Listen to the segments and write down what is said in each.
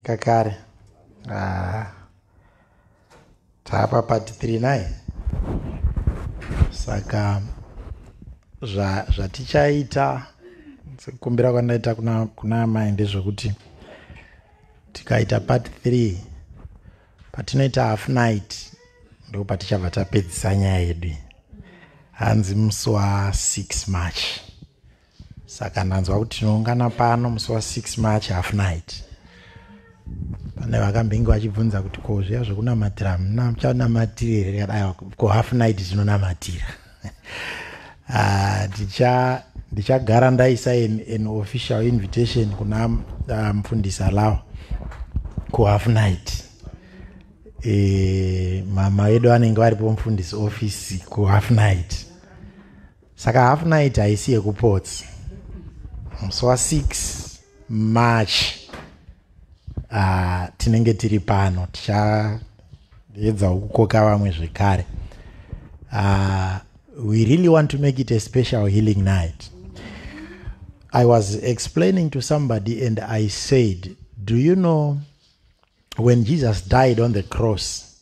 kakare ah. taapa part 3 nai saka zvatichaita zva sekukumbira kwandaita kuna, kuna amai ndezvekuti tikaita part 3 patinoita half night ndo patichabva tapedzisa nyaya yedu hanzi musi wa 6 march saka ndanzwa kuti tinoungana pano musi wa six march half night pane vakambenge vachibvunza kuti ko zviya zvekunamatira hamuna muchanamatire here kadai ko half night tinonamatira ah, ticha ndichagara ndaisa an official invitation kuna ah, mufundisi um, alawa kuhalf night e, mama vedu vanenge varipo mufundisi office kuhalf night saka half night haisi yekuports musi wa 6 march uh, tinenge tiri pano tichaedzawo kukoka vamwe zvekare uh, we really want to make it a special healing night i was explaining to somebody and i said do you know when jesus died on the cross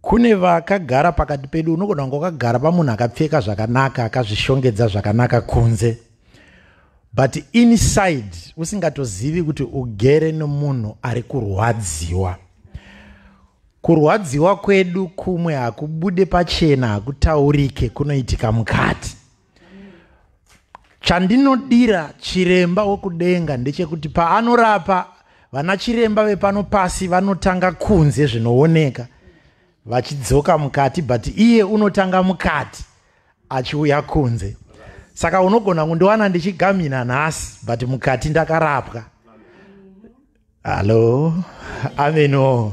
kune vakagara pakati pedu unogona kunge wakagara pamunhu akapfeka zvakanaka akazvishongedza zvakanaka kunze but inside usingatozivi kuti ugere nomunhu ari kurwadziwa kurwadziwa kwedu kumwe hakubude pachena hakutaurike kunoitika mukati chandinodira chiremba wokudenga ndechekuti paanorapa vana chiremba vepano pasi vanotanga kunze zvinooneka vachidzoka mukati but iye unotanga mukati achiuya kunze saka unogona kundiwana ndichigamina nhasi but mukati ndakarapwa hallo ameno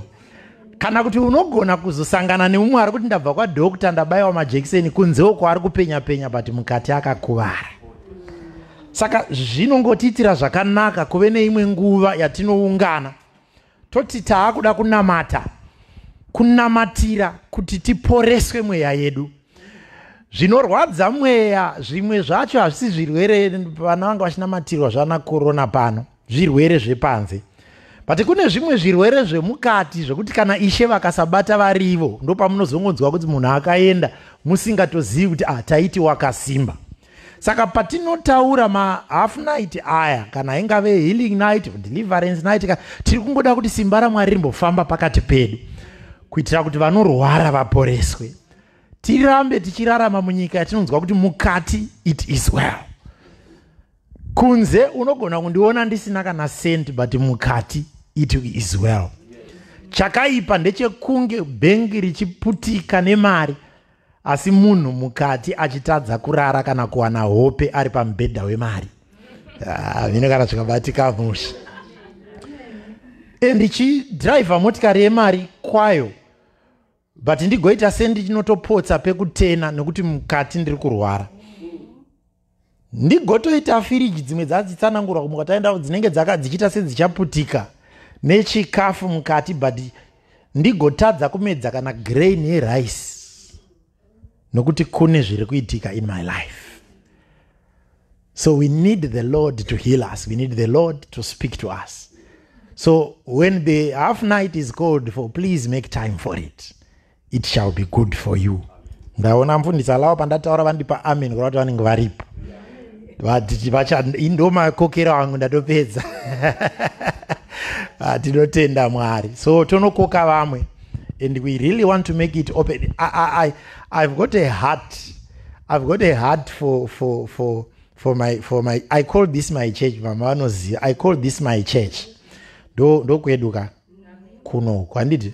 kana kuti unogona kuzosangana neumwe ari kuti ndabva kwadokta ndabayiwa majekiseni kunze uko ari kupenya penya but mukati akakuvara saka zvinongotiitira zvakanaka kuve neimwe nguva yatinoungana toti taakuda kunamata kunamatira kuti tiporeswe mweya yedu zvinorwadza mweya zvimwe zvacho hazvisi zvirwere vana vanga vachinamatirwa zvana korona pano zvirwere zvepanze but kune zvimwe zvirwere zvemukati zvekuti kana ishe vakasabata varivo ndopamunozongonzwa kuti munhu akaenda musingatozivi kuti ah taiti wakasimba saka patinotaura mahalf night aya kana ingave healing night or deliverance night ka tiri kungoda kuti simba ramwari rimbofamba pakati pedu kuitira kuti vanorwara vaporeswe tirambe tichirarama munyika yatinonzwa kuti mukati it is well kunze unogona kundiona ndisina kana sent but mukati it is well chakaipa ndechekunge bhengi richiputika nemari asi munhu mukati achitadza kurara kana kuwana hope ari pamubhedha wemari ah, vine kana zvikabatika musha and ichidhiraivha motikari yemari kwayo but ndigoita sendichinotopotsa pekutena nekuti mukati ndiri kurwara ndigotoita firiji dzimwe dzadzitsanangurwa kumuka taenda dzinenge dzaka dzichiita sedzichaputika nechikafu mukati but ndigotadza kumedza kana grain yerice nokuti kune zviri kuitika in my life so we need the lord to heal us we need the lord to speak to us so when the half night is called for please make time for it it shall be good for you ndaona mfundisi alawa pandataura vandipa amen kureva kuti vanenge varipo vaditi vacha ndo makokero angu ndatopedza ah, tinotenda mwari so tonokoka vamwe and we really want to make it open I, I, I, i've got a heart i've got a heart for, for, for, for, my, for my i call this my church mama vanoziva i call this my church ndokweduka kuno kwanditi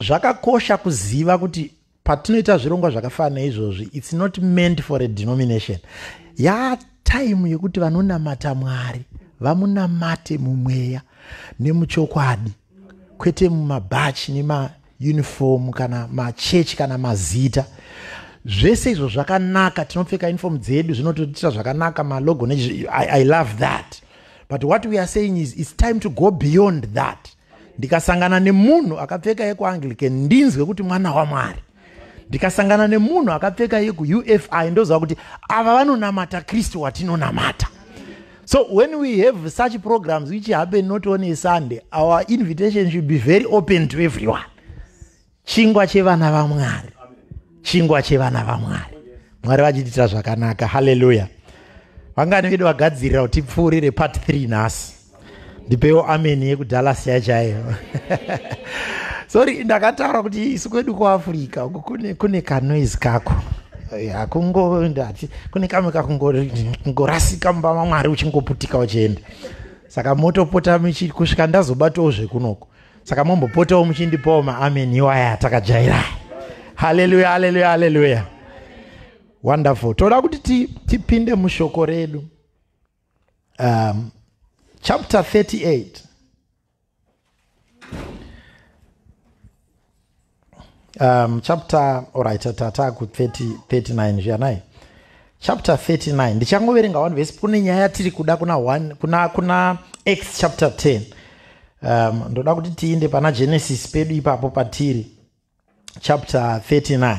zvakakosha kuziva kuti patinoita zvirongwa zvakafanana izvozvi its not meant for a denomination yaa time yekuti vanonamata mwari vamunamate mumweya nemuchokwadi kwete mumabhachi nemauniform kana machechi kana mazita zvese izvo zvakanaka tinopfeka uniform dzedu zvinototiita zvakanaka malogo ne I, i love that but what we are saying is its time to go beyond that ndikasangana nemunhu akapfeka yekuanglican ndinzwe kuti mwana wamwari ndikasangana nemunhu akapfeka yekuufi ndoziva kuti ava vanonamata kristu watinonamata so when we have such programs which happen not on a sunday our invitation should be very open to everyone chingwa chevana vamwari chingwa chevana vamwari mwari vachititira zvakanaka haleluya vangani vedu vagadzirira kuti tipfuurire part 3 nhasi ndipewo ameni yekudallas yachaiyo sorry ndakataura kuti isu kwedu kuafrica uku kune, kune kanoise kako hakungondati kune kamwe kakungorasika mumba mamwari uchingoputika uchienda saka motopota kusvika ndazobatawo zvekunoko saka mombopotawo muchindipawo maamen iwaya atakajaira haleluya haleluya haleluya wonderful toda kuti tipinde mushoko redu um, chapter 38 um, chapter orit tata ku 39 zviyanai chapter 39 ndichangoverenga one vese kune nyaya yatiri kuda kuna one kuna kuna x chapter 10 um, ndoda kuti tiinde pana genesis pedu ipapo patiri chapter 39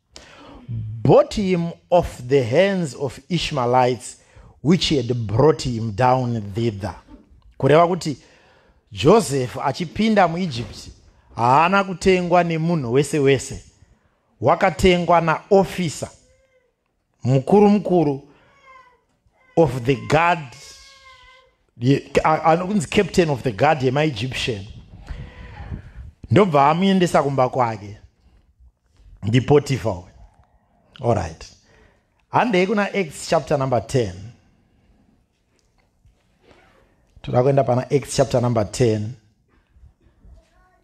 bought him off the hands of ishmaelites which had brought him down thither kureva kuti joseph achipinda muegypt haana kutengwa nemunhu wese wese wakatengwa naofisa mukuru mukuru of the guard anokunzi captain of the guard yemaegyptian ndobva amuendesa kumba kwake ndipotifa uyo allright handei kuna acts chapter number 10 toda kuenda pana acts chapter number 10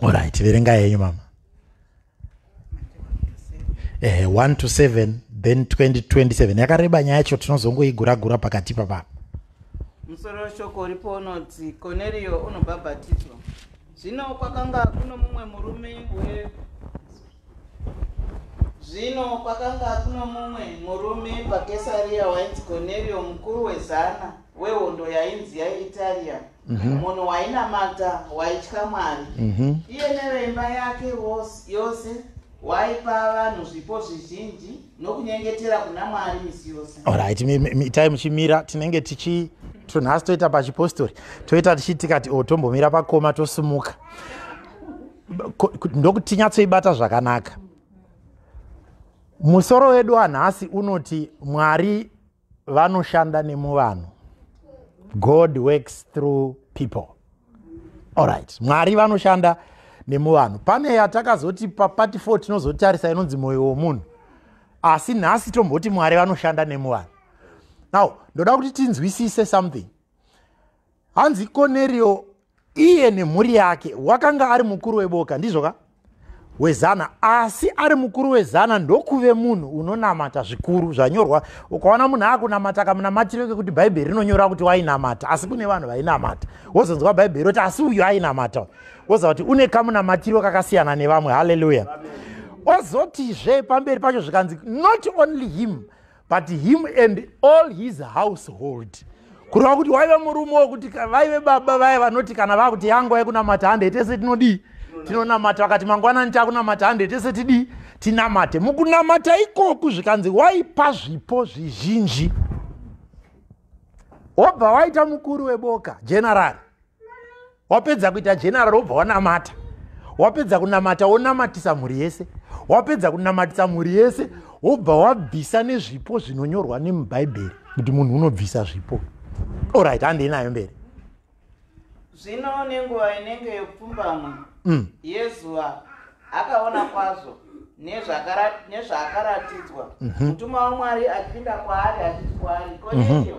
orit verenga yenyu mama eh, 1 to 7 then 2027 yakareba nyaya yacho tinozongoigura gura pakati papapa musoro weshoko uripo unoti koneriyo unobhabhatidzwa zvino kwakanga kuno mumwe murume we zvino kwakanga kuno mumwe murume pakesariya wainzi koneriyo mukuru wezana wehondo yainzi yaItaria, mhm. munhu wainamata, waitya Mwari. Mhm. Iye neveimba yake yose waipa vanhu zvipo zvizhinji nokunyengetera kuna Mwari misi yose. Alright, itai muchimira tinenge tichi tunhasi toita pachipostori toita tichitikati o oh, tombomira pakoma tosumuka ndokuti tinyatsoibata zvakanaka musoro wedu anhasi unoti mwari vanoshanda nemuvanhu god works through people allright mwari vanoshanda nemuvanhu pane yatakazoti papati fo tinozotarisa inonzi mwoyo womunhu asi nhasi tomboti mwari vanoshanda nemuvanhu now ndoda kuti tinzwisise something hanzi konerio iye nemhuri yake wakanga ari mukuru weboka ndizvo ka wezana asi ari mukuru wezana ndokuve munhu unonamata zvikuru zvanyorwa ukaona munhu akunamata kamunamatiro kekuti bhaibheri rinonyora kuti wainamata asi kune vanhu vainamata wozonzwa bhaibheri roti asi uyu ainamata woziva kuti une kamunamatiro kakasiyana nevamwe haleluya ozotizve pamberi pacho zvikanzi not only him but him and all his household kureva kuti waive murume wokuti vaive baba vaye vanoti kana vakuti yangu aikunamata hande tese tinodii tinonamata vakati mangwanani takunamata hande tese tidii tinamate mukunamata ikoku zvikanzi waipa zvipo zvizhinji wobva waita mukuru weboka generali wapedza kuita general wobva wanamata wapedza kunamata wonamatisa mhuri yese wapedza kunamatisa mhuri yese wobva wabvisa nezvipo zvinonyorwa nemubhaibheri kuti munhu unobvisa zvipo orit handei nayo mberi zvino nenguva inenge yepfumbamwe mm. yezuva akaona kwazvo nezvaakaratidzwa mhm. mutumwa wamwari achipinda kwaari achiti kwaari mhm. koneiyo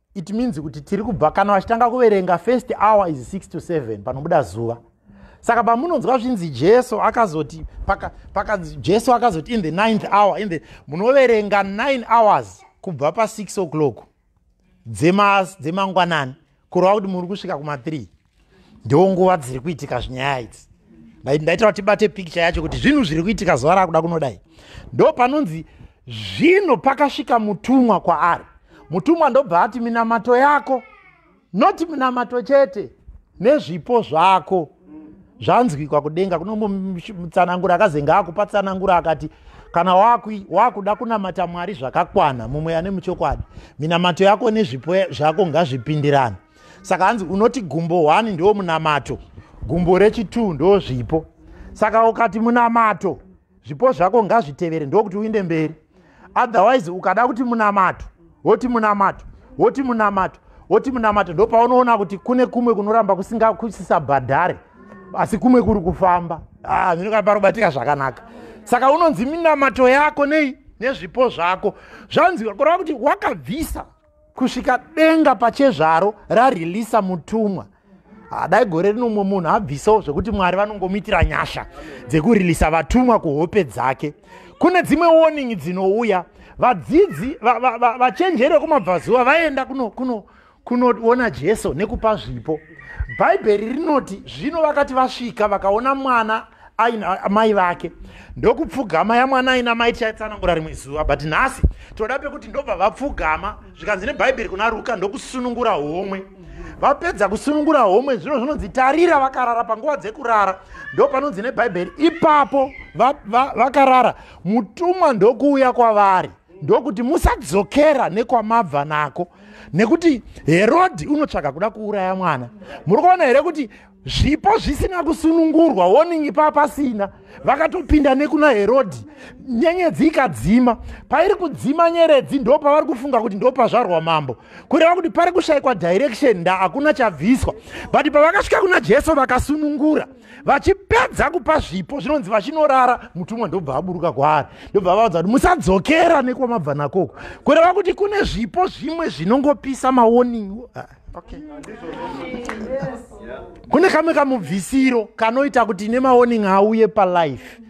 it means kuti tiri kubva kana vachitanga kuverenga first hour is 6 to 7 panobuda zuva saka pamunonzwa zvinzi jesu akazoti paka, paka, jesu akazoti in the ninth hour in the munoverenga 9 hours kubva pa6 o'clock dzemangwanani kureva kuti muri kusvika kuma3 ndiwo nguva dziri kuitika zvinyaya idzi ndaitaura tibate pikicha yacho kuti zvinhu zviri kuitika zuva raakuda kunodai ndo panonzi zvino pakasvika mutumwa kwaari mutumwa ndobva ati minamato yako noti minamato chete nezvipo zvako zvanzwikwa kudenga kunomutsanangura akazenge akupatsanangura akati kana wakuda kunamata mwari zvakakwana mumwe ane muchokwadi minamato yako nezvipo zvako ngazvipindirane saka hanzi unoti gumbo one ndo munamato gumbo rechitwo ndo zvipo saka ukati munamato zvipo zvako ngazvitevere ndokuti uinde mberi otherwise ukada kuti munamato woti munamato woti munamato woti munamato ndo paunoona kuti kune kumwe kunoramba kusingakusisabhadhare asi kumwe kuri kufamba ah, ndinokaa parobatika zvakanaka saka unonzi minamato yako nei nezvipo zvako zvanzi kureva kuti wakabvisa kusvika denga pachezvaro rareleasa mutumwa hadai gore rino mumwe munhu abvisawo zvekuti mwari vanongomuitira nyasha dzekureleasa vatumwa kuhope dzake kune dzimwe warning dzinouya vadzidzi vachenjeri vekumabvazuva vaenda kunoona jesu nekupa zvipo bhaibheri rinoti zvino vakati vasvika vakaona mwana aina amai vake ndokupfugama yamwana aina mai tichaitsanangura rimwe zuva but nhasi toda pekuti ndobva vapfugama zvikanzi nebhaibheri kuna ruka ndokusunungura homwe vapedza kusunungura homwe zvino zvinonzi tarira vakarara panguva dzekurara ndo panonzi nebhaibheri ipapo vakarara va, va mutumwa ndokuuya kwavari ndokuti musadzokera nekwamabva nako nekuti herodhi unotsvaga kuda kuuraya mwana muri kuona here kuti zvipo zvisina kusunungurwa woningi paa pasina vakatopinda nekuna herodhi nyenyedzi ikadzima pairi kudzima nyeredzi ndo pavari kufunga kuti ndo pazvarwa mambo kureva kuti pari kushayikwa direction nda hakuna chabviswa but pavakasvika kuna jesu vakasunungura vachipedza kupa zvipo zvinonzi vachinorara mutumwa ndobva aburuka kwaari ndobva avaudza kuti musadzokera nekwamabva nakoko kureva kuti kune zvipo zvimwe zvinongopisa mawoningi okay kune kamwe kamubvisiro kanoita kuti ine maoning auye palife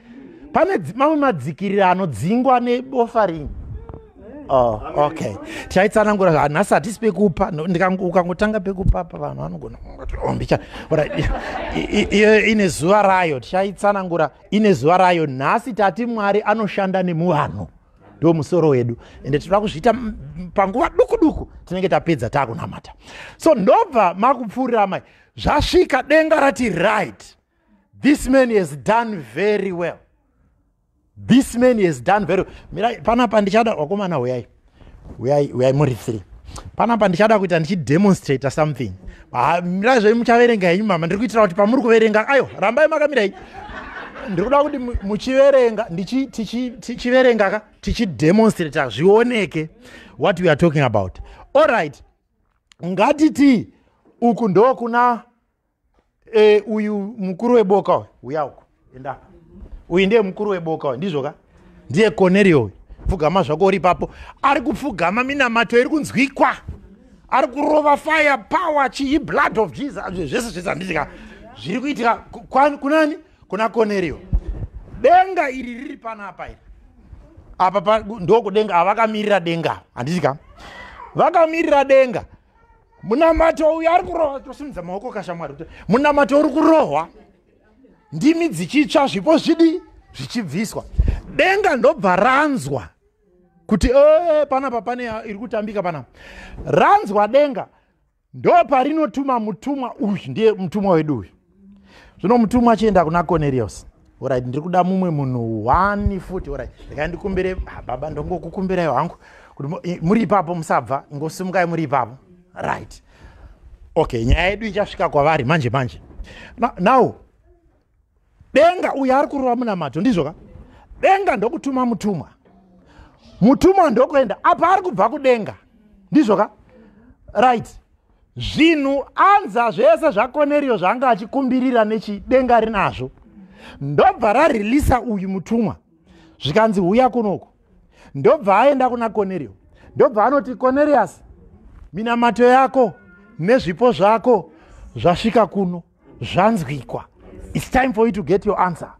pane mamwe madzikirira anodzingwa nebofaring oh, okay tichaitsanangura hanhasi hatisi pekupa ukangotanga pekupa pa vanhu vanogona iyo ine zuva rayo tichaitsanangura ine zuva rayo nhasi tati mwari anoshanda nemuvanhu ndo musoro wedu ende tinoda kuzviita panguva duku duku tinenge tapedza taakunamata so ndobva makupfuurira mai zvasvika denga rati right this man has done very well this man has done very well mirai panapa ndichada wakomana huyai huyai huyai muri three panapa ndichada kuita ndichidemonstrata something ah, mirai zvenyu muchaverenga henyu mama ndiri kuitira kuti pamuri kuverenga ayo rambai makamirai ndiri kuda kuti muchiverenga tichiverenga ka tichidemonstrata zvioneke what we are talking about all right ngatiti uku ndokuna e, uyu mukuru weboka uya uku enda apa uyu ndiye mukuru weboka uyu ndizvo ka ndiye cornelio uyu pfugama zvako uri ipapo ari kupfugama minamato iri kunzwikwa ari kurova fire power chii blood of jesus zvese zvese handitika zviri kuitika kunani kuna cornelio denga iri riri panapa iri apa ndokudenga avakamirira denga handitika vakamirira denga munamato uyu ari kurova tosimudza maoko kashamwari munamato uri kurohwa ndimi dzichitsva zvipo zvidi zvichibviswa denga ndobva ranzwa kuti ee eh, panapa pane iri kutambika panapa ranzwa denga ndoparinotuma mutumwa uyu ndiye mutumwa wedu uyu zvino mutumwa achienda kuna conerius orit ndiri kuda mumwe munhu one futi orit rekai ndikumbire ah, baba ndongokukumbirai hangu kuti muri ipapo musabva ingosimukai muri ipapo right okay nyaya yedu ichasvika kwavari manje manje now denga uyo ari kurova munamato ndizvo ka denga ndokutuma mutumwa mutumwa ndokuenda apa ari kubva kudenga ndizvo ka right zvinhu anza zvese zvakoneriyo zvaanga achikumbirira nechidenga rinazvo ndobva rarelisa uyu mutumwa zvikanzi huya kunoku ndobva aenda kuna konerio ndobva anoti konerius minamato yako nezvipo zvako zvasvika kuno zvanzwikwa its time for you to get your answer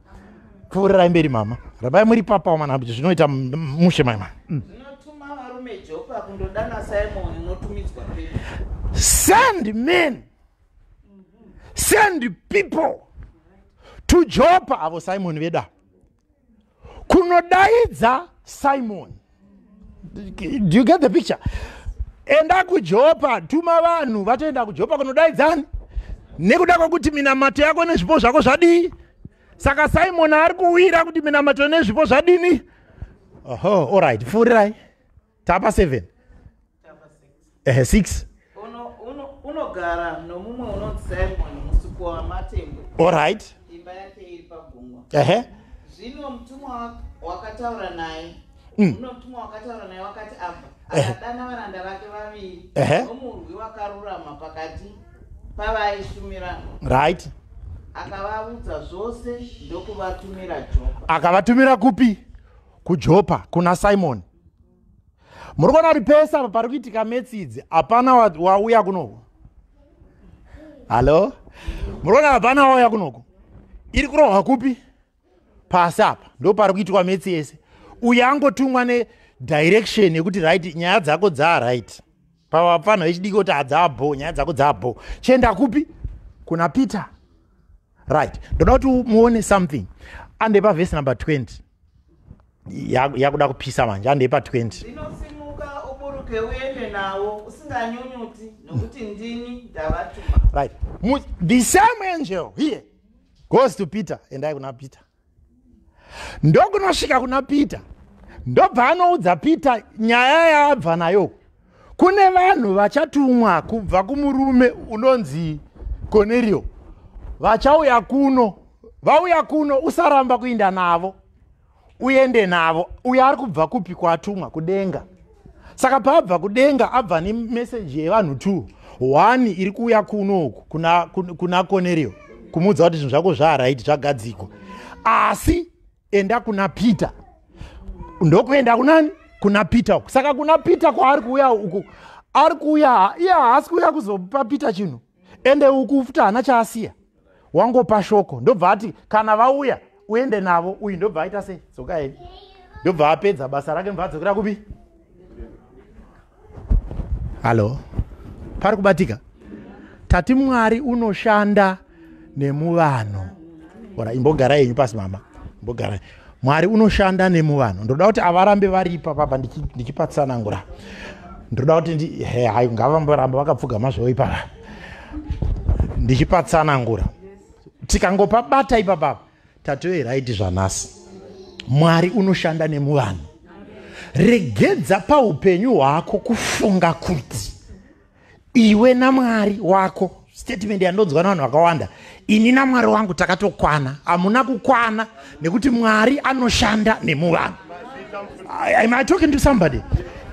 pfuurirai mberi mama rambai muri papa wamana kuti zvinoita mushe maima mm. send men send people to jopa avo simoni veda kunodaidza simoni do you get the picture enda kujopa tuma vanhu vatoenda kujopa kunodaidzani nekuda kwekuti minamato yako nezvipo zvako zvadii saka simoni ari kuwira kuti minamato nezvipo zvadini oho orit fuurirai tapa 7 ehe 6 unogara nomumwe unonzi simon musiko wamatembo olright imba yake iri pagungwa ehe zvino mutumwa wakataura naye mm. uno mutumwa wakataura naye wakati abva akadana varanda vake vaviri nomurwi wakarurama pakati pavaishumira right akavaudza zvose ndokuvatumira jopa akavatumira kupi kujopa kuna simoni muri kuona kuti pese apa pari kuitika metsi idzi hapana wauya kunoku hallo muri kuona hapana wauya kunoku iri kurohwa kupi pasi apa ndo pari kuitwa metsi yese uyo angotumwa nedirection yekuti right nyaya dzako dzaa right pavapfanha vechidiki kuti adzabho nyaya dzako dzabho chienda kupi kuna peter right ndoda kuti muone something andepa vhesi number 20 yakuda kupisa manje andepa 20 right the same angel here goes to peter endai kuna peter ndokunosvika kuna peter ndobva anoudza peter nyaya yaabva nayo kune vanhu vachatumwa kubva kumurume unonzi konerio vachauya kuno vauya kuno usaramba kuinda navo uende navo uyo ari kubva kupi kwatumwa kudenga saka paabva kudenga abva nemeseji yevanhu t one iri kuuya kunoku kuna, kuna konerio kumuudza kuti zvinhu zvako zvaaraiti zvagadzikwa asi enda kuna peter ndokuenda kunani kuna peter uku saka kuna peter kwaari kuuya uku ari kuuya iye haasi kuuya kuzopa peter chinhu ende uku futi haana chaasiya wangopa shoko ndobva ati kana vauya uende navo uyu ndobva aita sei dzokai ndobva apedza basa rake ndobva adzokera kupi hallo pari kubatika tati mwari unoshanda nemuvanhu ora imbogara yenyu pasi mama imbogara mwari unoshanda nemuvanhu ndoda kuti avarambe varipa papa ndichipatsanangura ndoda kuti hai ngavamboramba vakapfugama zvovo ipapa ndichipatsanangura tikangopabata ipapapa tatove raiti zvanhasi mwari unoshanda nemuvanhu regedza paupenyu hwako kufunga kuti iwe namwari wako statement yandonzwa navanhu vakawanda ini namwari wangu takatokwana hamuna kukwana nekuti mwari anoshanda nemuvanhu am i talking to somebody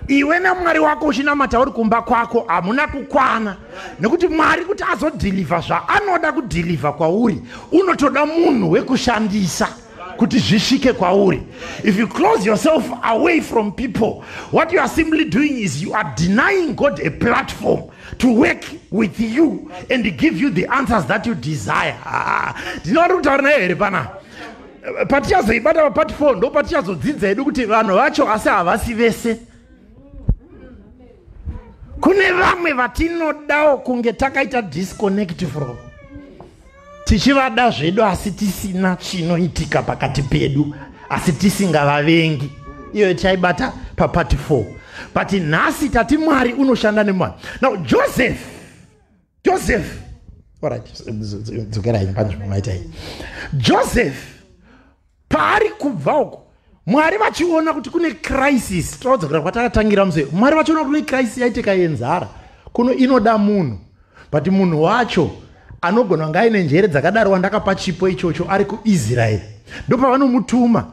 iwe namwari wako uchinamata uri kumba kwako hamuna kukwana nekuti mwari kuti azodhilivha zvaanoda kudhilivha kwauri unotoda munhu wekushandisa kuti zvisvike kwauri if you close yourself away from people what you are simply doing is you are denying god a platform to work with you and give you the answers that you desire ndinoda ah, kutaura naye here pana patichazoibata papati four ndo patichazodzidza hedu kuti vanhu vacho asi havasi vese kune vamwe vatinodawo kunge takaita disconnect from tichivada zvedu asi tisina chinoitika pakati pedu asi tisingavavengi iyoyo tichaibata papati 4 but nhasi tati mwari unoshanda nemwari now joseph joseph orit dzokerai panzvimbo maita iyi joseph paari kubva uko mwari vachiona kuti kune crisis tinodzokera kwatakatangira muse mwari vachiona kuti kune crisis yaitika yenzara kuno inoda munhu but munhu wacho anogona kunge aine njere dzakadaro wandakapa chipo ichocho ari kuisraeri ndopavanonutuma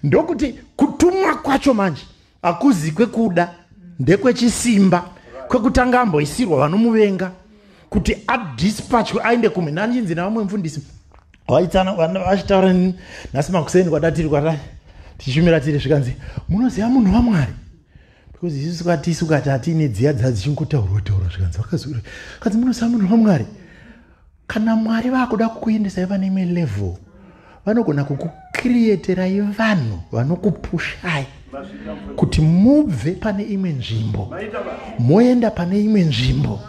ndokuti kutumwa kwacho manje akuzi kwekuda ndekwechisimba kwekutanga amboisirwa vanomuvenga kuti adispatchwe aende kumwe nandinzi navamwe mfundisi vaitsana vachitaura nini nhasi makuseni kwatatiri kwata tichishumira tiri zvikanzi munoziva munhu vamwari because isu katisu kati atiine dziya dzadzichingutaurwa taurwa zvikanzi vakaziura kanzi munoziva munhu vamwari kana mwari vakuda kukuendesai pane imwe level vanogona kukukrieterai vanhu vanokupushai kuti mubve pane imwe nzvimbo moenda pane imwe nzvimbo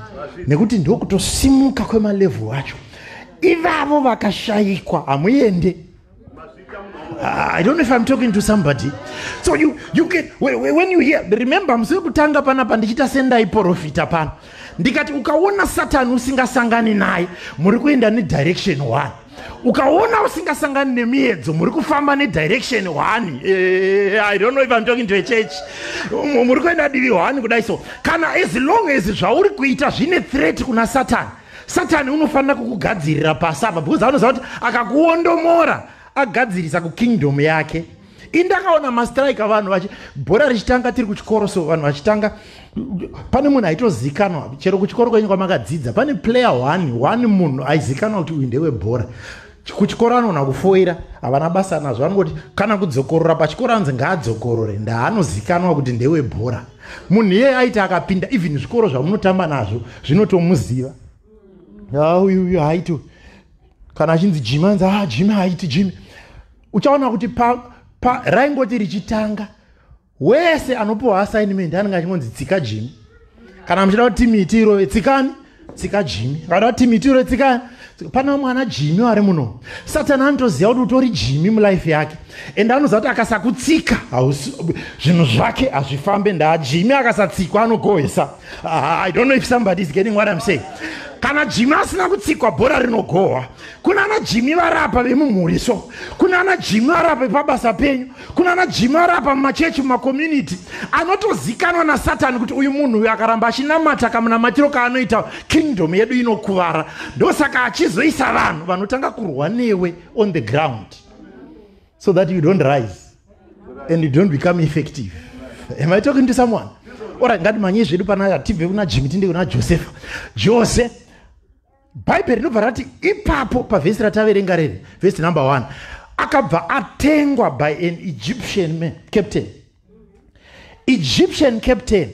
nekuti ndokutosimuka kwemalevhu acho ivavo vakashayikwa hamuende Ah, I don't know if I'm talking to somebody. So you, you can, when you hear, remember, musiri kutanga panapa ndichita sendai porofita pano. Ndikati ukaona Satan usingasangani naye, muri kuenda ne direction one. Ukaona usingasangani nemiedzo, muri kufamba ne direction one. Eh, I don't know if I'm talking to a church. Muri kuenda divi one kudai so. Kana as long as zvauri kuita zvine threat kuna Satan. Satani unofanira kukugadzirira pasi apa because anoziva kuti akakuondomora agadzirisa kukingdom yake indakaona mastrike avanhu vachi bhora richitanga tiri kuchikoro so vanhu vachitanga pane munhu aitozikanwa chero kuchikoro kwenyu kwamakadzidza pane player one one munhu aizikanwa kuti uyu ndewebhora kuchikoro anogona kufoira havana basa nazvo vanongoti kana kudzokorora pachikoro anzi ngaadzokorore ndaanozikanwa kuti ndewebhora munhu iyeye aiti akapinda even zvikoro zvamunotamba nazvo zvinotomuziva uyu uyu haiti kana achinzi jimi anzi a ah, jimi haiti jimi uchaona kuti pa, pa raingoti richitanga wese anopiwa assignment anenge achingonzi tsika jimi kana muchida kuti timu iti irove tsikani tsika jimi ngada kuti timu iti irove tsikani pana mwana jimi ari muno satani anotoziva kuti utori jimi mulife yake ende anoziva kuti akasakutsika zvinhu zvake hazvifambe ndaa jimi akasatsikwa anogohwesa ah, i don't know if somebody is getting what im saying kana jimi asina kutsikwa bhora rinogohwa kuna ana jimi varapa vemumhuri so kuna ana jimi varapa vepabasa penyu kunana jimara apa mumachechi mumakomunity anotozikanwa nasatani kuti uyu munhu uyu akaramba achinamata kamunamatiro kaanoita kingdom yedu inokuvara ndosaka achizoisa vanhu vanotanga kurwa newe on the ground so that you don't rise and you don't become effective am i talking to someone ora ngatimanyei zvedu pana tibve kuna jimi tinde kuna josefa jose bhaibheri rinobva rati ipapo pavhesi rataverenga rere vhesi number one akabva atengwa by an egyptian man captain egyptian captain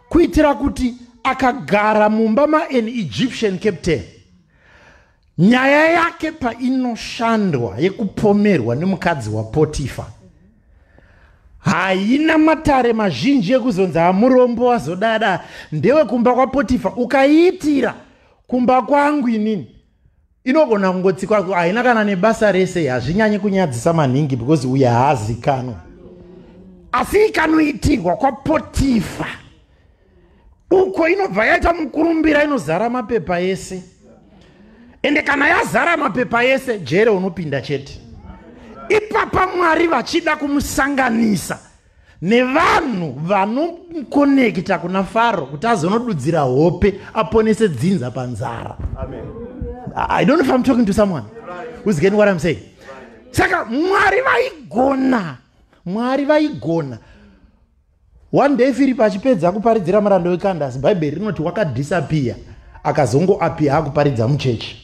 kuitira kuti akagara mumba maan egyptian captain nyaya yake painoshandwa yekupomerwa nemukadzi wapotifa haina matare mazhinji ekuzonzi hamurombo wazodada ndewekumba kwapotifa ukaiitira kumba kwangu inini inogona kungotsikwa haina kana nebasa rese hazvinyanye kunyadzisa maningi because uye haazikanwa asi ikanoitirwa kwapotifa uko inobva yaita mukurumbira inozara mapepa ese ende kana yazara mapepa yese jere unopinda chete ipapa mwari vachida kumusanganisa nevanhu vanomukonekita kuna faro kuti azonodudzira hope aponese dzinza panzara i don't know if i'm talking to someone who's getting what i'm saying saka mwari vaigona mwari vaigona one day firipi achipedza kuparidzira muranda wekandasi bhaibheri rinoti wakadhisapiya akazongoapiya akuparidza muchechi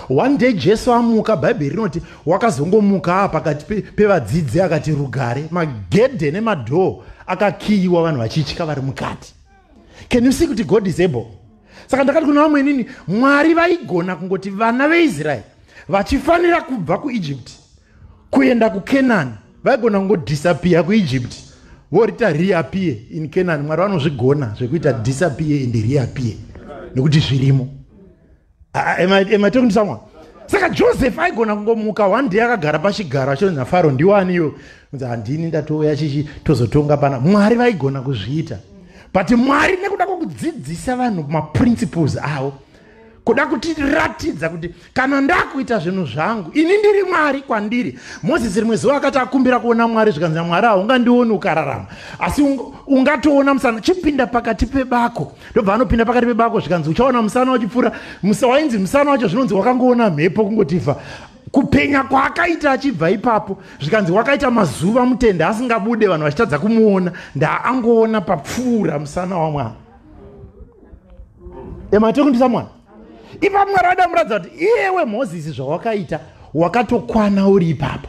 one day jesu amuka bhaibheri rinoti wakazongomukaa pakati pevadzidzi akati rugare magedhe nemadhoo akakiyiwa vanhu vachitya vari mukati can you see kuti god is able saka ndakati kuna vamwe inini mwari vaigona kungoti vana veisraeri vachifanira kubva kuegypt kuenda kucanani vaigona kungodisappear kuegypt vorita reappear in canani mwari vanozvigona zvekuita disappear and reappear nekuti zvirimo am I, am I talking to someone saka joseph aigona kungomuka one day akagara pachigaro achionzi nafaro ndiwo aniyo nzi handini ndatouya chichi tozotonga pana mwari vaigona kuzviita but mwari nekuda kwokudzidzisa vanhu maprinciples avo kuda kutiratidza kuti kana ndakuita zvinhu zvangu ini ndiri mwari kwandiri mozisi rimwe zuva akati akumbira kuona mwari zvikanzi namwari haungandioni ukararama asi ungatoona musana chipinda pakati pebako ndobva anopinda pakati pebako zvikanzi uchaona musana wachipfuura musa wainzi musana wacho zvinonzi wakangoona mhepo kungotiva kupenya kwaakaita achibva ipapo zvikanzi wakaita mazuva mutende asingabude vanhu vachitadza kumuona ndaangoona papfuura musana wamwana ematekundisa mwana ipa mwari adamuratidza kuti iyewe mozisi zvawakaita wakatokwana uri ipapo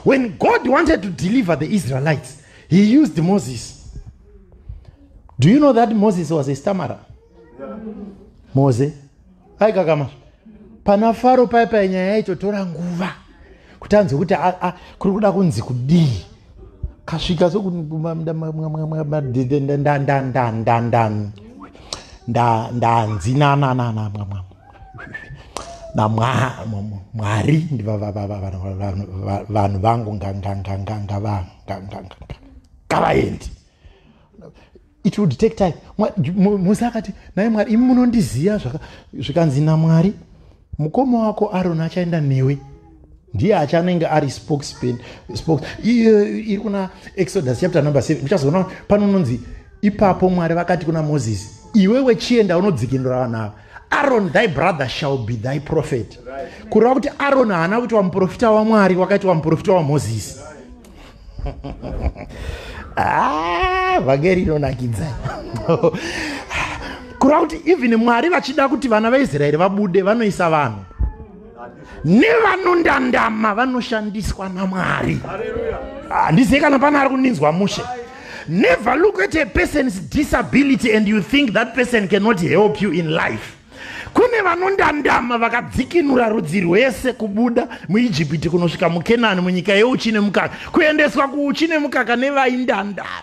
when god wanted to deliver the israelites he used moses do you know that moses was a stamara moze aikakama pana faro paya paya nyaya yacho tora nguva kuti anzwe kuti kuri kuda kunzi kudii kasvika sokundandandanzi nanananamwamwa namwari ndivanhu vangu ngangangangangavanganganganga ngavaende it would take time mose akati naye mwari imi munondiziva zvikanzi namwari mukoma wako aroni achaenda newe ndiye achanenge ari spokespen spokes iri kuna exodus chapter number seven uchazoona pano unonzi ipapo mwari vakati kuna moses iwewe chienda unodzikinura vanhu ava aron thy brother shall be thy prophet kureva kuti aron haana kuitwa muprofita wamwari wakaitwa muprofita wamozisi right. Ah, vhangeri inonakidza kureva kuti even mwari vachida kuti vana vaisraeri vabude vanoisa vanhu nevanondandama vanoshandiswa namwari handizive ah, kana pane ari kundinzwa mushe never look at a person's disability and you think that person cannot help you in life Kune vanondandama vakadzikinura rudzi rwese kubuda muIjipiti kunosvika muKenani munyika yeuchi nemukaka kuendeswa kuuchi nemukaka nevaindandama.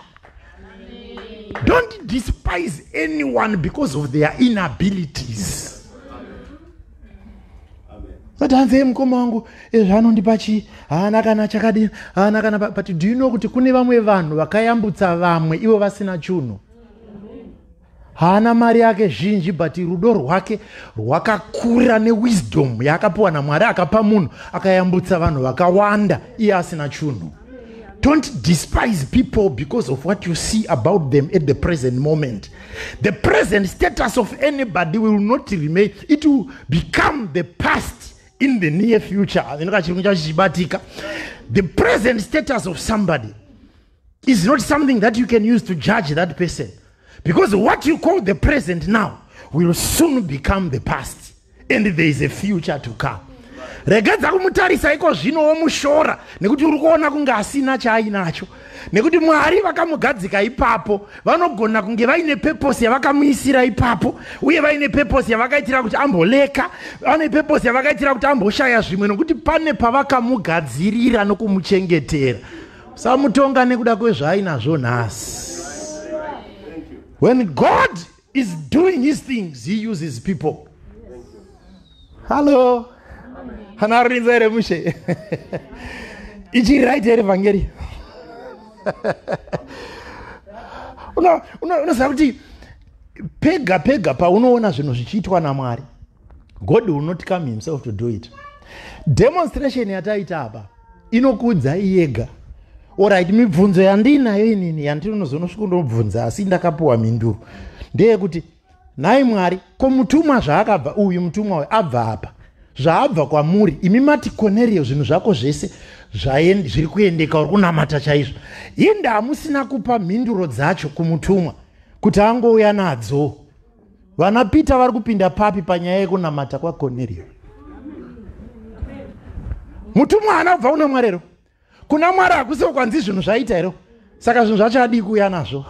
Don't despise anyone because of their inabilities. Vati hanzi ye mukoma wangu zvaanondipa chii haana kana chakadini haana kana but do you know kuti kune vamwe vanhu vakayambutsa vamwe ivo vasina chunhu. haana mari yake zhinji but rudo rwake rwakakura newisdom yaakapiwa namwari akapa munhu akayambutsa vanhu vakawanda iye asina chunhu don't despise people because of what you see about them at the present moment the present status of anybody will not remain it will become the past in the near future inokachirungu chacho chichibatika the present status of somebody is not something that you can use to judge that person because what you call the present now will soon become the past and there is a future to come regedza kumutarisa iko zvino womushora nekuti uri kuona kunge asina chaainacho nekuti mwari vakamugadzika ipapo vanogona kunge vaine peposi yavakamuisira ipapo uye vaine peposi yavakaitira kuti amboleka vane peposi yavakaitira kuti amboshaya zvimwe nokuti pane pavakamugadzirira nokumuchengetera samutonga nekuda kwezvaainazvo nhasi when god is doing his things he uses people hallo anarinza here mushe ichiri right here vhangeri unoziva kuti pega pega paunoona zvinhu zvichiitwa namwari god will not come himself to do it demonstration yataita apa inokuudzai yega orit mibvunzo yandiinayo inini yandinozonosviko ndobvunza asi ndakapiwa mhinduro ndeyekuti nhai mwari ko mutumwa zvaakabva uyu mutumwa uyu abva apa zvaabva kwamuri imi mati konerio zvinhu zvako zvese zviri kuendeka uri kunamata chaizvo inde hamusina kupa mhinduro dzacho kumutumwa kuti angouya nadzo vana peter vari kupinda papi panyaya yekunamata kwakoneriyo mutumwa haana kubva kuna mwari ero kuna mwari hakusiwo kwanzi zvinhu zvaita ero saka zvinhu zvacho adii kuuya nazvo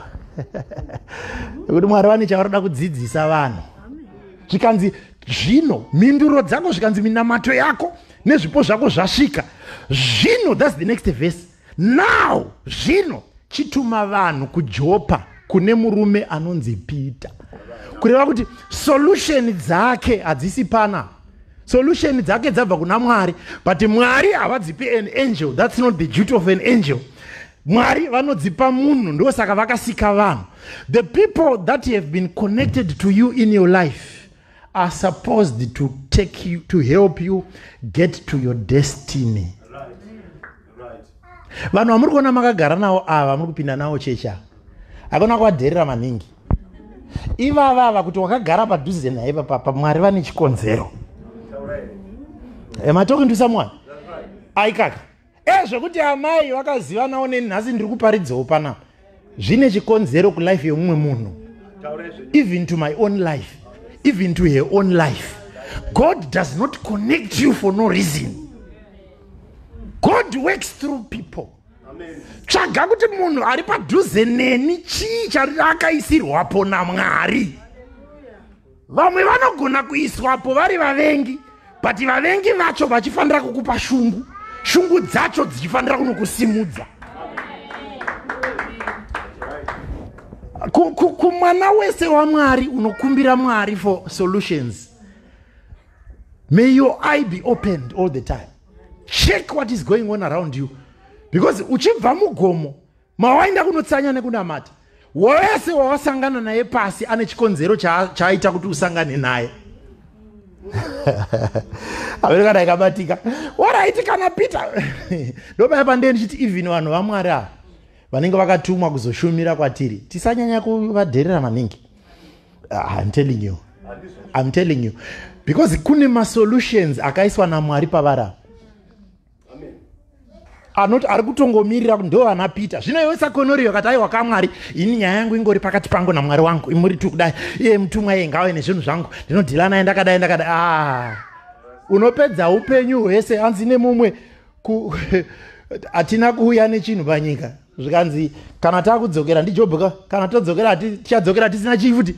nekuti mwari vane chavaroda kudzidzisa vanhu zvikanzi zvino mhinduro dzako zvikanzi minamato yako nezvipo zvako zvasvika zvino thats the next verse Now zvino chituma vanhu kuJopa kune murume anonzi Peter. Kureva kuti solution dzake hadzisi pana. Solution dzake dzabva kuna Mwari, but Mwari havadzipi an angel. That's not the duty of an angel. Mwari vanodzipa munhu ndosaka vakasika vanhu. The people that have been connected to you in your life are supposed to take you to help you get to your destiny. vanhu vamuri kuona makagara navo ava vamuri kupinda navo chechi ava hakuna kuvadherera maningi ivava ava kuti wakagara padhuze naye papapa mwari vane chikonzero am i talking to someone aikaka ezvekuti amai vakazivanawo neni nhasi ndiri kuparidzawo panapa zvine chikonzero kulife yemumwe munhu even to my own life even to her own life god does not connect you for no reason god works through people tsvaga kuti munhu ari padhuze neni chii chariakaisirwapo namwari vamwe vanogona kuiswapo vari vavengi but vavengi vacho vachifanira kukupa shungu shungu dzacho dzichifanira kunokusimudza kumwana wese wamwari unokumbira mwari for solutions may your eye be opened all the time check what is going on around you because uchibva mugomo mawaenda kunotsanya nekunamata wese wawasangana naye pasi ane chikonzero chaaita kuti usangane naye amene kana ikabatika waraiti kana peter ndopaya pandee ndichiti even vanhu vamwari ava vanenge vakatumwa kuzoshumira kwatiri tisanyanya kuvadherera maningi ah, im telling you im telling you because kune masolutions akaiswa namwari pavarava anoti ari kutongomirira ndo vana peter zvino iwe sakonoriyo kati aiwa kamwari ini nyaya yangu ingori pakati pangu namwari wangu imuri tu kudai iye mutumwa iye ngauye nezvinhu zvangu ndinodhila naye ndakadai ndakadai ah. unopedza upenyu hwese hanzi nemumwe hatina kuuya nechinhu panyika zvikanzi kana takudzokera ndijob ka kana todzokera tichadzokera tisina chii futi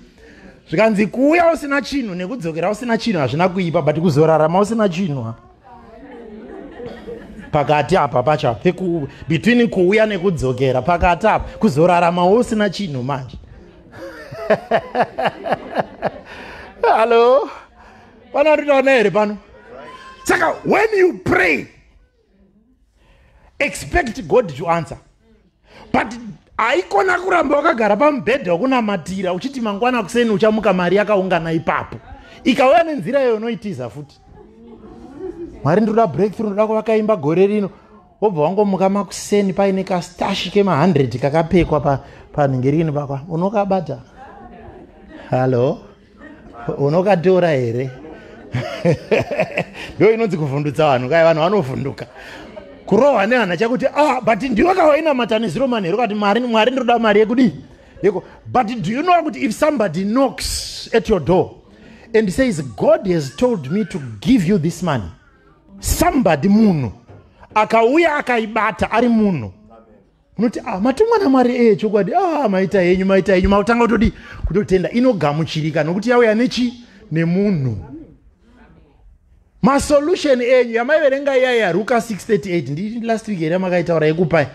zvikanzi kuuya usina chinhu nekudzokera usina chinhu hazvina kuipa but kuzorarama usina chinhu ha pakati apa pacha between kuuya nekudzokera pakati apa kuzoraramawo usina chinhu manje hallo pano ritaona here pano saka when you pray expect god to answer but haikona kuramba wakagara pamubhedha wekunamatira uchiti mangwana kuseni uchamuka mari yakaungana ipapo ikauya nenzira iyo unoitiza futi mwari ndinoda breakthrough ndoda kuvakaimba gore rino wobva wangomuka makuseni paine kastashi kema100 kakapekwa panenge rini pakwa unokabata hallo unokatora here ndo inonzi kuvhundutsa vanhu kai vanhu vanovhunduka kurohwa nehana chakuti ah, but ndiwe kawainamata neziro mani here kati mari mwari ndinoda mari yekudii yeko but do you know kuti if somebody knocks at your door and says god has told me to give you this money somebody munhu akauya akaibata ari munhu munoti ah, matumwa namwari eye eh, chokwadi ah, maita henyu maita henyu makutanga kutodii kutotenda inogamuchirika nokuti yauya nechi nemunhu masolution enyu yamaiverenga iya yaruka 638 ndi last week here makaitaura yekupai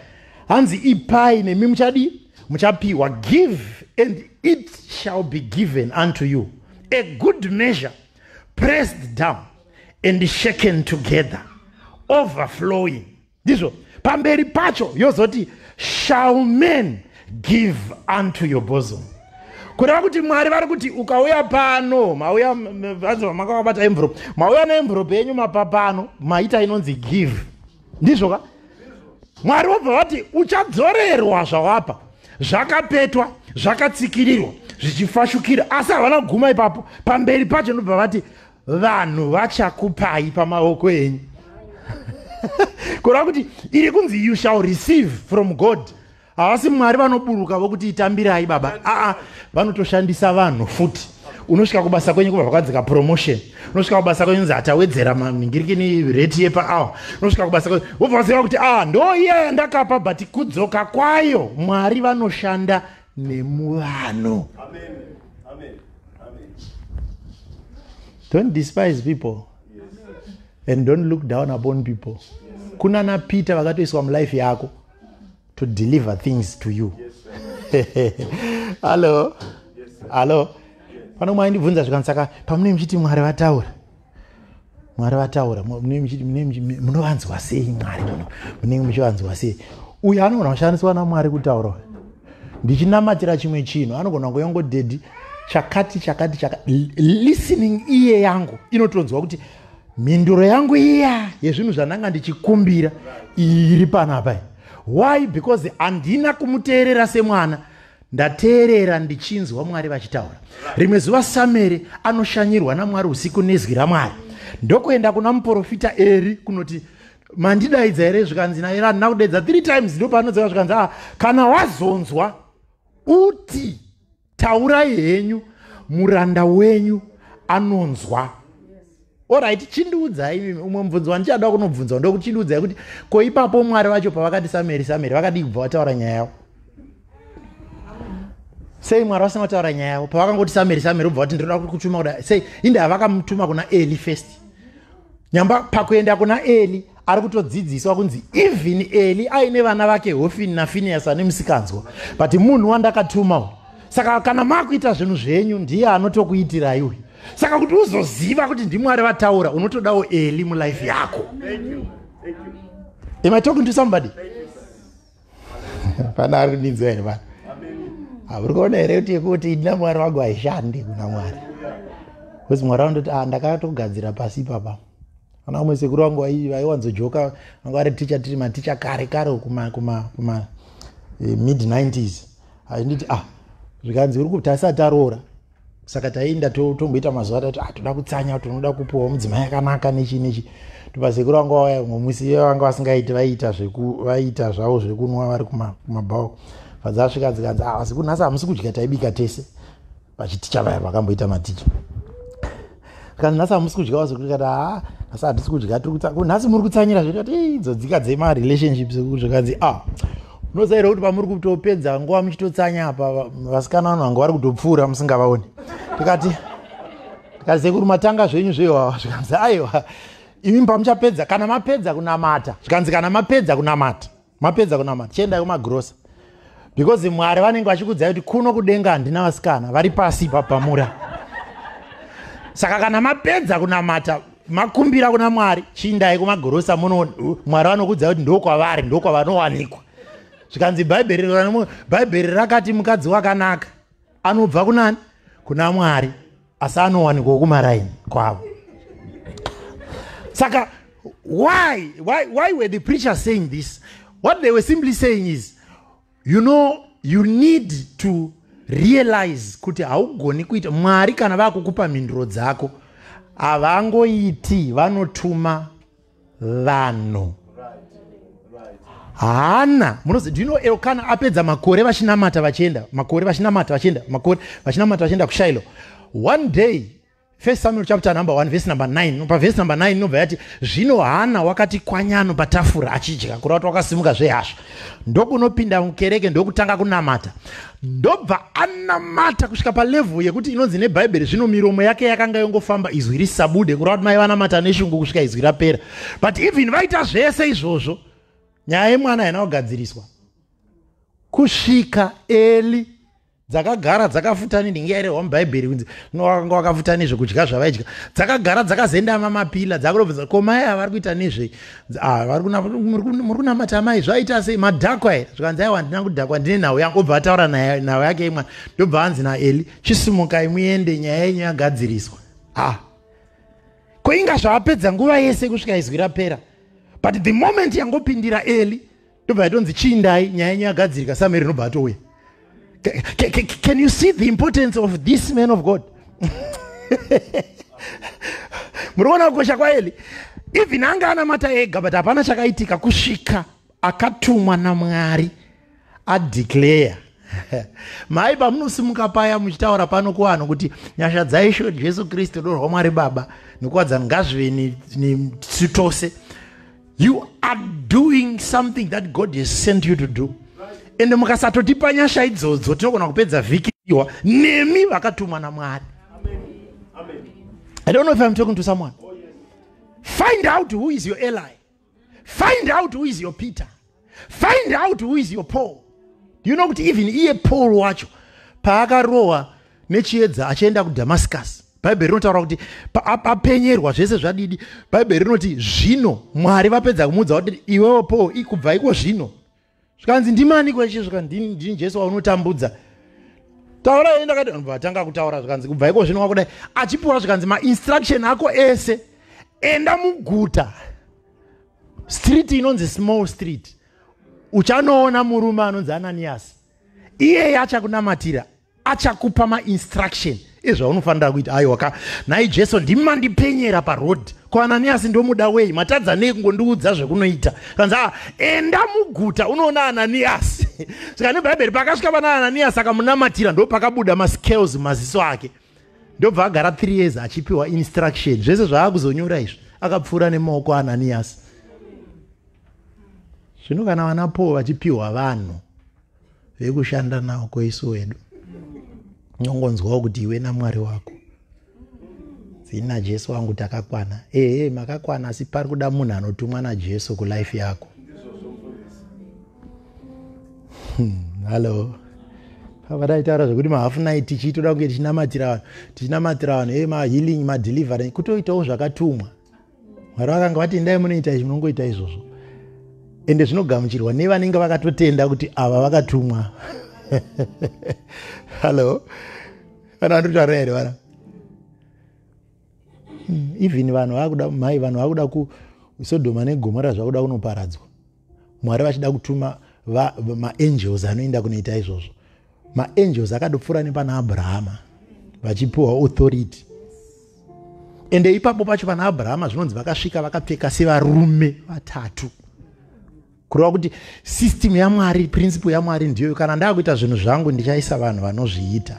hanzi ipai nemi muchadii muchapiwa give and it shall be given unto you a good measure pressed down and shaken together overflowing ndizvo pamberi pacho yozoti shall men give unto your bosom kureva kuti mwari vari kuti ukauya pano mauya vanzi vamakavabata envelope mauya neenvelope yenyu mapa pano maita inonzi give ndizvo ka mwari vobva vati uchadzorerwa zvawapa zvakapetwa zvakatsikirirwa zvichifashukira asi havana kuguma ipapo pamberi pacho ndobva vati vanhu vachakupai pamaoko enyu kureva kuti iri kunzi you shall receive from god havasi mwari vanoburuka vokuti itambirai baba aa vanotoshandisa vanhu futi unosvika kubasa kwenyu kubva vakadzika promotion unosvika kubasa kwenyu nzi hatawedzera mangirikini reti yepaawa unosvika kubasa kwenyu vobva vaziva kuti a ah, ndo iya yandakapa but kudzoka kwayo mwari vanoshanda nemuvanhu don't despise people and don't look down upon people kunana peter vakatoiswa mulife yako to deliver things to you hallo hallo pano mwaindibvunza zvikanzi saka pamunenge muchiti mwari vataura mwari vataura munovanzwa sei mwari muno munenge muchivanzwa sei uyu anogona kushandiswa namwari kutaura ndichinamatira chimwe chinhu anogona kuyongo dedi chakati chakati chaka listening iye yangu inotonzwa kuti mhinduro yangu iya yezvinhu zvandanga ndichikumbira iri panapa why because handina kumuteerera semwana ndateerera ndichinzwa mwari vachitaura rimwe zuva sameri anoshanyirwa namwari usiku nezwi ramwari ndokuenda kuna muprofita eri kunoti mandidaidza here zvikanzi naye randina kudaidza three times ndo paanodzeva zvikanzi a ah, kana wazonzwa uti taurai henyu muranda wenyu anonzwa orit chindiudzai imimi umwe mubvunzo wandichada kunobvunzwa ndokuti chindiudzai kuti ko ipapo mwari vacho pavakati sameri sameri vakadii kubva vataura nyaya yavo sei mwari vasina kutaura nyaya yavo pavakangoti sameri sameri ubva vati ndinoda kutuma kuda sei inde havakamutuma kuna eli first nyamba pakuenda kuna eli ari kutodzidziswa kunzi even eli aine vana vake hofini nafiniyasi ane musikanzwa but munhu wandakatuma uyu saka kana makuita zvinhu zvenyu ndiye anotokuitirai uyu saka kuti uzoziva kuti ndimwari vataura unotodawo eli mulife yako am i talking to somebody pana ari kundinzwa here pana hauri kuona here kuti yekuti ndina mwari wangu haishandi kuna mwari bcause mwari wandoti ah, ndakatogadzira pasi ipapa kana vamwe sekuru vangu vaiwanzojoka vanga vari ticha tiri maticha kare kare kuma kuma kuma eh, mid 90s ainditi ah zvikanzi uri kutasa taroora saka taienda tomboita mazuva tati ah toda kutsanya tinoda kupuwa mudzimai akanaka nechi nechi tobva sekuru vangu vauya vamwe musi iye vanga vasingaiti vaiita zveku vaiita zvavo zvekunwa vari kumabhawa fadzasvika dzikanzi ah asi kunhasi hamusi kudya taibika tese vachiticha vaya vakamboita maticha zvikanzi nhasi hamusi kudyawo zvekutikati haa nhasi hatisi kudya tiri kutsa nhasi muri kutsanyira zvekati idzodzika dzemarelationships ekuri zvekanzi a ah, unozaira kuti pamuri kutopedza nguva muchitotsanya apa vasikana vano vanga vari kutopfuura musingavaoni tikati tikati sekuri matanga zvenyu zvewawa zvikanzi aiwa imi pamuchapedza kana mapedza kunamata zvikanzi kana mapedza kunamata mapedza kunamata chiendai kumagrosa because mwari vanenge vachikudzai kuti kuno kudenga handina vasikana vari pasi ipapamura saka kana mapedza kunamata makumbira kuna mwari chiindai kumagorosa muno mwari vanokudzai kuti ndokwavari ndokwavanowanikwa zvikanzi bhaibheri bhaibheri rakati mukadzi wakanaka anobva kunani kuna mwari asi anowanikwa kumaraini kwavo saka why, why, why were the preacher saying this what they were simply saying is you know you need to realize kuti haugoni kuita mwari kana vakukupa mhinduro dzako havangoiti vanotuma vanhu hana munozi do you know elkana apedza makore vachinamata vachienda makore vachinamata vachienda makore vachinamata vachienda kushilo one day first samuel chapter number one vhesi number nine pavhesi number nine inobva yati zvino hana wakati kwanyano patafura achidya kurava kuti wakasimuka zvehasha ndokunopinda mukereke ndokutanga kunamata ndobva anamata kusvika palevhu yekuti inonzi nebhaibheri zvino miromo yake yakanga yongofamba izwi risabude kureva kuti mai vanamata neshungu kusvika izwi rapera but even vaita zvese izvozvo nyaya yemwana haina kugadziriswa kusvika eli dzakagara dzakafutani ndinge yairehwa mubhaibheri kunzi nowakanga wakafutani zvekudya zvavaidya dzakagara dzakazoenda mamapila dzakurovheza ko mai avari kuita nezvei Ah, muri kunamata amai zvaita sei madhakwa here zvikanzi aiwa handina kudhakwa ndine nhau yangu obva ataura nhau yake imwana ndobva anzi naeli chisimukai muende nyaya yenyu yagadziriswa a ah. ko inga zvaapedza nguva yese kusvika izwi rapera but the moment yangopindira eli ndobva yatonzi chiindai nyaya yenyu yagadzirika sameri inobva atouya can you see the importance of this man of god muri kuona kukosha kwaeli even anga anamata ega but hapana chakaitika kusvika akatumwa namwari adeclare mhai pamunosimuka paya muchitaura pano kuvanhu kuti nyasha dzaisho jesu kristu dorwa mwari baba nekuwadzana ngazvive nesu tose ni, ni, you are doing something that god has sent you to do ende mukasatotipa nyasha idzodzo tinogona kupedza vhiki iwa nemi vakatumwa namwari i don't know if i'm talking to someone find out who is your ally find out who is your peter find out who is your paul you know kuti even iye paul wacho paakarohwa nechiedza achienda kudamascus bhaibheri rinotaura kuti apenyerwa zvese zvadidi bhaibheri rinoti zvino mwari vapedza kumuudza kuti iwewo paul ikubva iko zvino zvikanzi ndimani kweshe zvika ndini jesu waunotambudza taura yei ndakati vanhu vatanga kutaura zvikanzi kubva iko zvino wakudai achipiwa zvikanzi mainstruction ako ese enda muguta street inonzi small street uchanoona murume anonzi ananiyasi iyeye achakunamatira achakupa mainstruction ezvaunofanira kuita aiwa ka nhai jesu ndimi mandipenyera paroad ko ananiyasi ndomuda wei matadza nei kungondiudza zvekunoita kanzi a ah, enda muguta unoona ananiyasi saka nebhaibheri pakasvika pana ananiyasi akamunamatira ndo pakabuda mascales mumaziso ake ndobva agara three years achipiwa instruction zvese zvaakuzonyora izvi akapfuura nemaoko ananiyasi zvino kana vana paul vachipiwa vanhu vekushanda nawo kweisu wedu unongonzwawo kuti iwe namwari wako zina jesu wangu takakwana ehe makakwana asi pari kuda munhu anotumwa najesu kulife yako hmm, hallo pava taitaura zvekuti mahafu night tichiitoda kunge tichinamatira vanhu tichinamatira vanhu e mahealing madelivery kutoitawo zvakatumwa mwari vakanga vati endai munoita izvi munongoita izvozvo ende zvinogamuchirwa nevanenge vakatotenda kuti ava vakatumwa hallo vana vanotaura here vana hmm, even vanhu vakuda mhai vanhu vakuda kusodhoma negomora zvakuda kunoparadzwa mwari vachida kutuma maangels anoenda kunoita izvozvo maangels akadopfuura nepana abrahama vachipiwa authority ende ipapo pacho pana abrahama zvinonzi vakasvika vakapfeka sevarume vatatu kureva kuti system yamwari principle yamwari ndiyoyo kana ndava kuita zvinhu zvangu ndichaisa vanhu vanozviita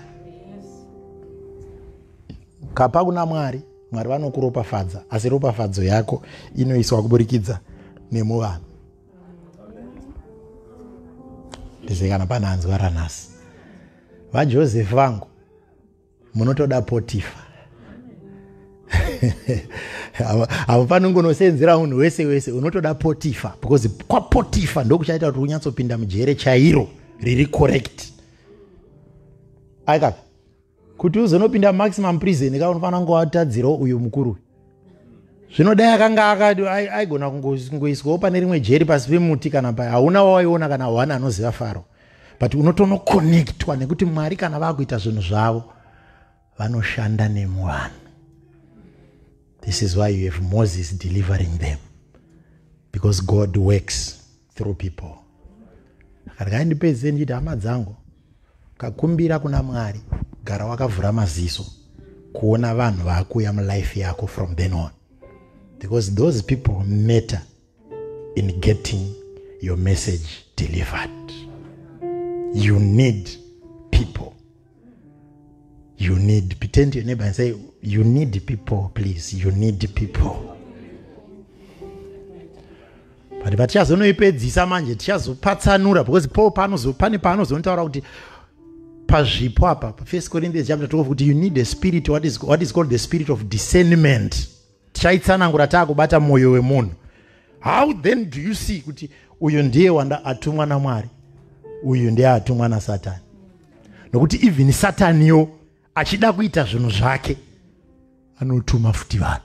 kapa kuna mwari mwari vanokuropafadza asi ropafadzo yako inoiswa kuburikidza nemuvanhu ndize kana pane anzwa ranhasi vajosefu vangu munotoda potifa avo panongonoseenzera munhu wese wese unotoda potifa because kwapotifa ndokuchaita kuti unyatsopinda mujere chairo riri correct aikapi kuti uzonopinda maximum prison ka unofanira kunge watadzirawo uyu mukuru zvinodai akanga akati aigona kungoiswawo pane rimwe jeri pasi pemuti kana pa hauna wawaiona kana one anoziva faro but unotonokonektwa nekuti mwari kana vakuita zvinhu zvavo vanoshanda nemuvanhu this is why you have moses delivering them because god works through people regai ndipedze ndichiti hama dzangu kakumbira kuna mwari gara wakavhura maziso kuona vanhu vaakuuya mulife yako from then on because those people matter in getting your message delivered you need people you need pretend to your neighbor and say you need people please you need people but vatichazonoipedzisa manje tichazopatsanura because paul pane paanozonotaura kuti pazvipo apa first corinthians chapter 12 kuti you need a spirit what is, what is called the spirit of discernment tichaitsanangura taakubata mwoyo wemunhu how then do you see kuti uyu ndiye wanda atumwa namwari uyu ndiye atumwa nasatani nokuti even sataniwo achida kuita zvinhu zvake anotuma futi vanhu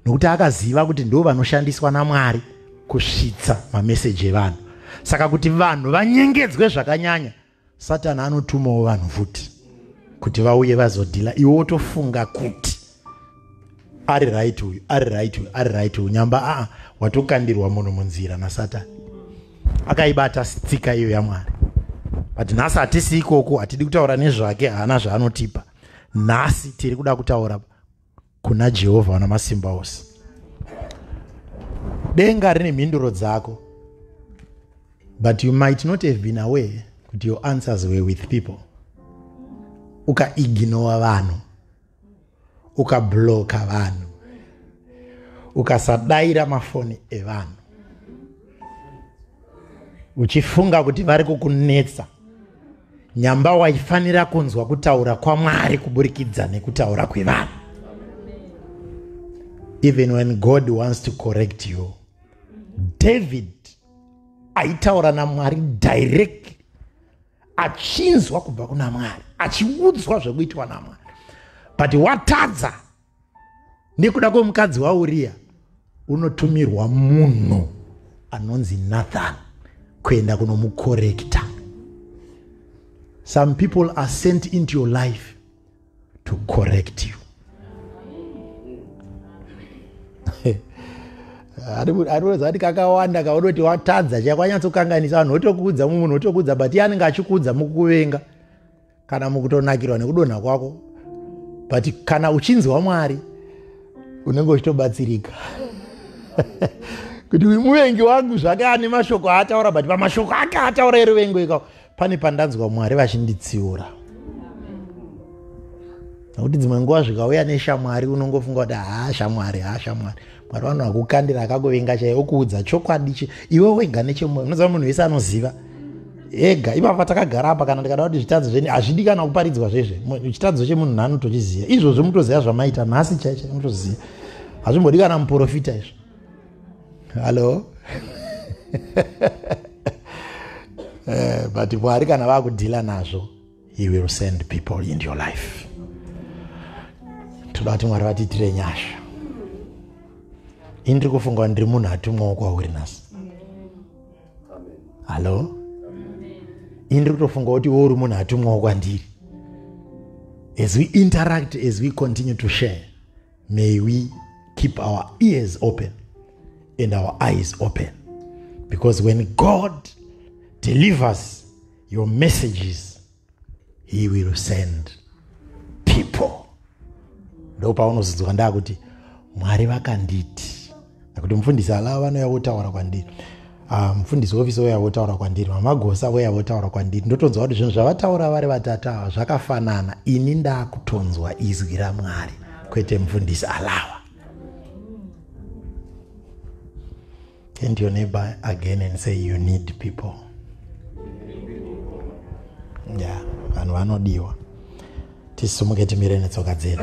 nokuti akaziva kuti ndo vanoshandiswa namwari kusvitsa mameseji evanhu saka kuti vanhu vanyengedzwe zvakanyanya satani anotumawo vanhu futi kuti vauye vazodhila iwe wotofunga kuti ari right uyu ari right uyu ari right uyu nyamba aa ah, watokandirwa munhu munzira nasatani akaibata tsika iyo yamwari but nhasi hatisi ikoko hatidi kutaura nezvake haana zvaanotipa nhasi tiri kuda kutaura kuna jehovha wana masimba ose denga rine mhinduro dzako but you might not have been aware kuti your answers were with people ukaignora vanhu ukabloka vanhu ukasadaira mafoni evanhu uchifunga kuti vari kukunetsa nyamba waifanira kunzwa kutaura kwamwari kuburikidza nekutaura kwevanhu even when god wants to correct you david aitaura namwari direct achinzwa kubva kuna mwari achiudzwa zvekuitwa namwari but watadza nekuda kwemukadzi wauriya unotumirwa munhu anonzi nathan kuenda kunomukorekta some people are sent into your life to correct you arikuratidza kuti kakawanda kaoda kuti watadza chakwanyatsokkanganisa vanhu votokuudza mumunhu votokuudza but iye anenge achikuudza mukuvenga kana mukutonakirwa nekudonha kwako but kana uchinzwa mwari unenge uchitobatsirika kuti uyu muvengi wangu zvake ane mashoko aataura but pamashoko ake ataura eruvengo ikao pane pandanzwa mwari vachinditsiura nokuti dzimwe nguva zvikauya neshamwari unongofunga kuti haa shamwari haa shamwari ah, mwari vanhu vakukandira akakuvenga chaiye okuudza chokwadi chi iwe wega nechemoyo unoziva munhu wese anoziva ega ipapa takagara apa kana ndikada kuti zvitadzo zveni hazvidi kana kuparidzwa zvezve chitadzo chemunhu nhano tochiziva izvozvo mutoziva zvamaita nhasi chaicha mutoziva hazvimbodi kana muprofita izvo hallo eh, but mwari kana vakudhila nazvo he will send people in your life toda kuti mwari vatiitire nyasha ini ndiri kufunga ndiri munhu atumwawo kwauri nhasi hallo ini ndiri kutofunga kuti wo uri munhu atumwawo kwandiri as we interact as we continue to share may we keep our ears open and our eyes open because when god delivers your messages he will send people ndopaunozodzwa ndakuti mwari vakanditi nekuti mufundisi alava vanouya votaura kwandiri ah, mufundisi wofisi wouya votaura kwandiri mamagosa wouya votaura kwandiri ndotonzwa kuti zvinhu zvavataura vari vatatu ava zvakafanana ini ndakutonzwa izwi ramwari kwete mufundisi alava Turn to your neighbor again and say you need people. Yeah, vanhu vanodiwa. Tisumuke timire netsoka dzedu.